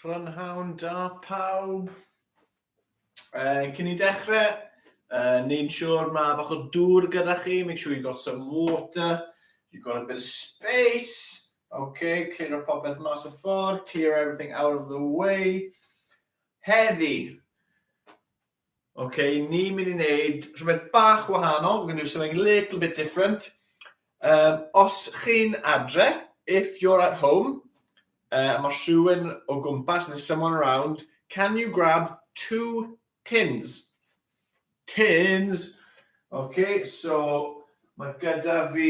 Prynhawn da pawb. Uh, cyn i dechrau, uh, neu'n siŵr mae bach o dŵr gyda chi, make sure you got some water, you got a bit of space, okay, clear up popeth mas o ffordd, clear everything out of the way. Heddi, Ok, ni'n mynd i wneud rhywbeth bach wahanol, we're going to do something a little bit different. Um, os chi'n adre, if you're at home, uh, mae rhywun o gwmpas, there's someone around, can you grab two tins? Tins! Ok, so mae gyda fi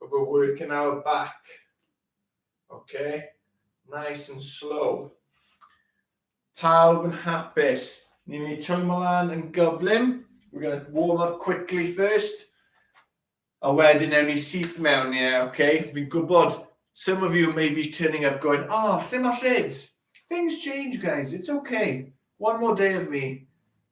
But we're working our back. OK? Nice and slow. Pawb yn hapus. Ni'n mynd i troi mlaen yn gyflym. We're going to warm up quickly first. A wedyn ewn ni syth mewn, ie, yeah, OK? Fi'n gwybod, some of you may be turning up going, oh, lle mae rheds? Things change, guys. It's OK. One more day of me.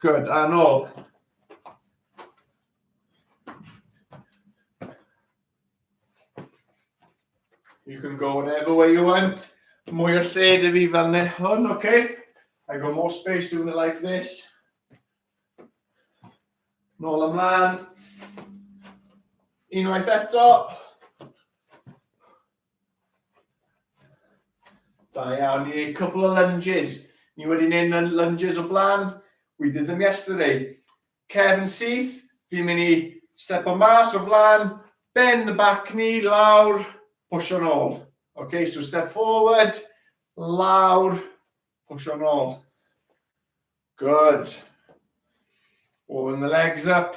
Good, a nôl. You can go whatever way you want. Mwy o lle dy fi fel ne hwn, oce? Okay? I got more space doing it like this. Nôl ymlaen. Unwaith eto. Da iawn, ni wneud cwbl o lunges. Ni wedi wneud lunges o blaen. We did them yesterday. Cefn syth, fi'n mynd i step o mas o flaen, bend the back knee, lawr, push o'n ôl. Okay, so step forward, lawr, push o'n ôl. Good. Warm the legs up.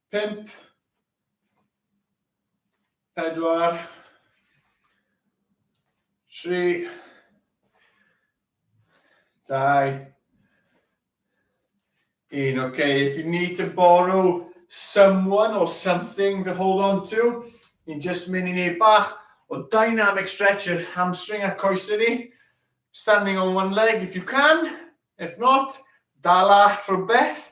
Pump. Pedwar. Tri. Dau. Un. Okay, if you need to borrow someone or something to hold on to, ni'n just mynd i wneud bach o dynamic stretch i'r hamstring a coesau ni. Standing on one leg if you can, if not, dala rhywbeth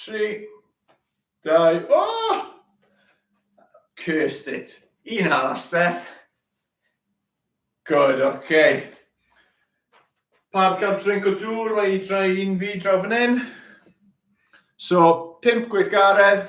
Tri, dau, o! Cursed it. Un arall, Steph. Good, oce. Okay. Pawb cael drink o dŵr, mae i drai un fi draw fan hyn. So, pimp gweithgaredd,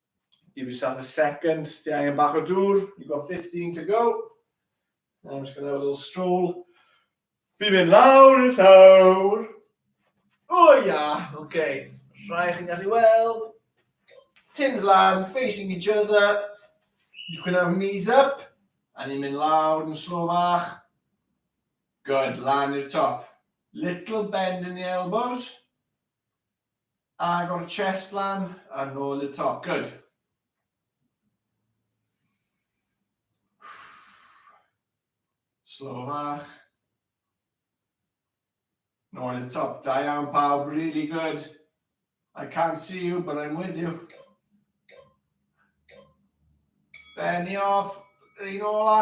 Give yourself a second, sti angen bach o dŵr, you've got 15 to go. I'm just going to have a little stroll. Fi'n mynd lawr i'r llawr. O oh, ia, yeah. oce. Okay. Rhai chi'n gallu weld. Tins lan, facing each other. You can have knees up. A ni'n mynd lawr yn slo fach. Good, lan i'r top. Little bend in the elbows. Agor y chest lan a nôl i'r top, good. Slow fach. Nôl i'r top, da iawn pawb, really good. I can't see you, but I'm with you. Benny off, rhaid ola.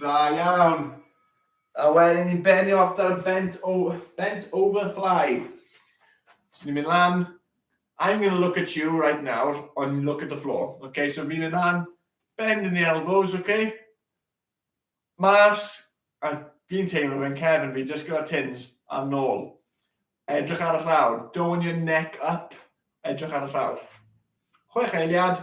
Da iawn. A wedyn ni'n benni off dar y bent, o, bent over fly. So ni'n mynd lan. I'm going to look at you right now, on look at the floor. Okay, so fi'n mynd lan, bend in the elbows, okay? Mas, a fi'n teimlo fe'n cefn fi, just gyda tins a nôl. Edrych ar y llawr, dowing your neck up, edrych ar y llawr. Chwech eiliad,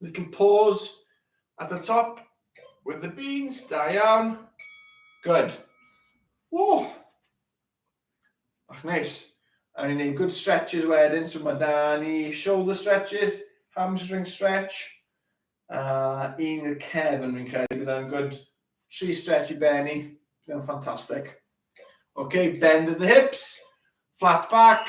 Little pause at the top with the beans, da iawn. Good. Woo! Ach, neis. A ni'n gwneud good stretches wedyn, so mae da ni shoulder stretches, hamstring stretch, a uh, un y cefn fi'n credu bydd yn good tri stretch i benni, bydd yn ffantastig. OK, bend the hips, flat back,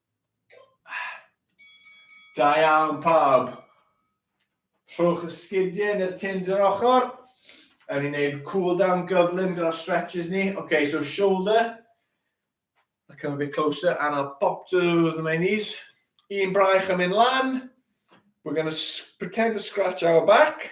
Da iawn pawb. Rhowch y sgidiau neu'r tins yr ochr. Ewn ni'n gwneud cool down gyflym gyda'r stretches ni. Okay, so shoulder. I come a bit closer and I'll pop to the my knees. Un braich yn mynd lan. We're going to pretend to scratch our back.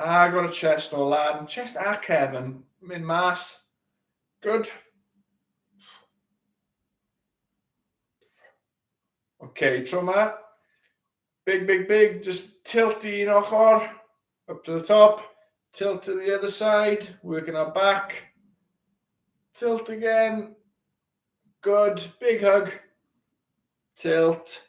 Agor y chest o lan. Chest a cef yn mynd mas. Good. OK, tro ma. Big, big, big. Just tilt i un ochr. Up to the top. Tilt to the other side. Working our back. Tilt again. Good. Big hug. Tilt.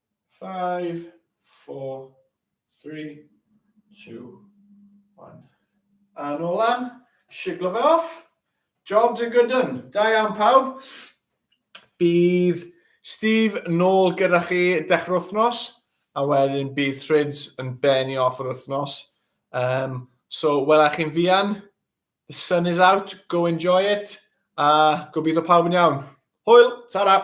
Five, four, three, two, one. A nôl lan, siglo fe off. Job to good done. Da iawn pawb. Bydd Steve nôl gyda chi dechrau wythnos, a wedyn bydd Thrids yn benni off yr wythnos. Um, so, wela chi'n fian. The sun is out, go enjoy it. A gobeithio pawb yn iawn. Hwyl, ta-ra!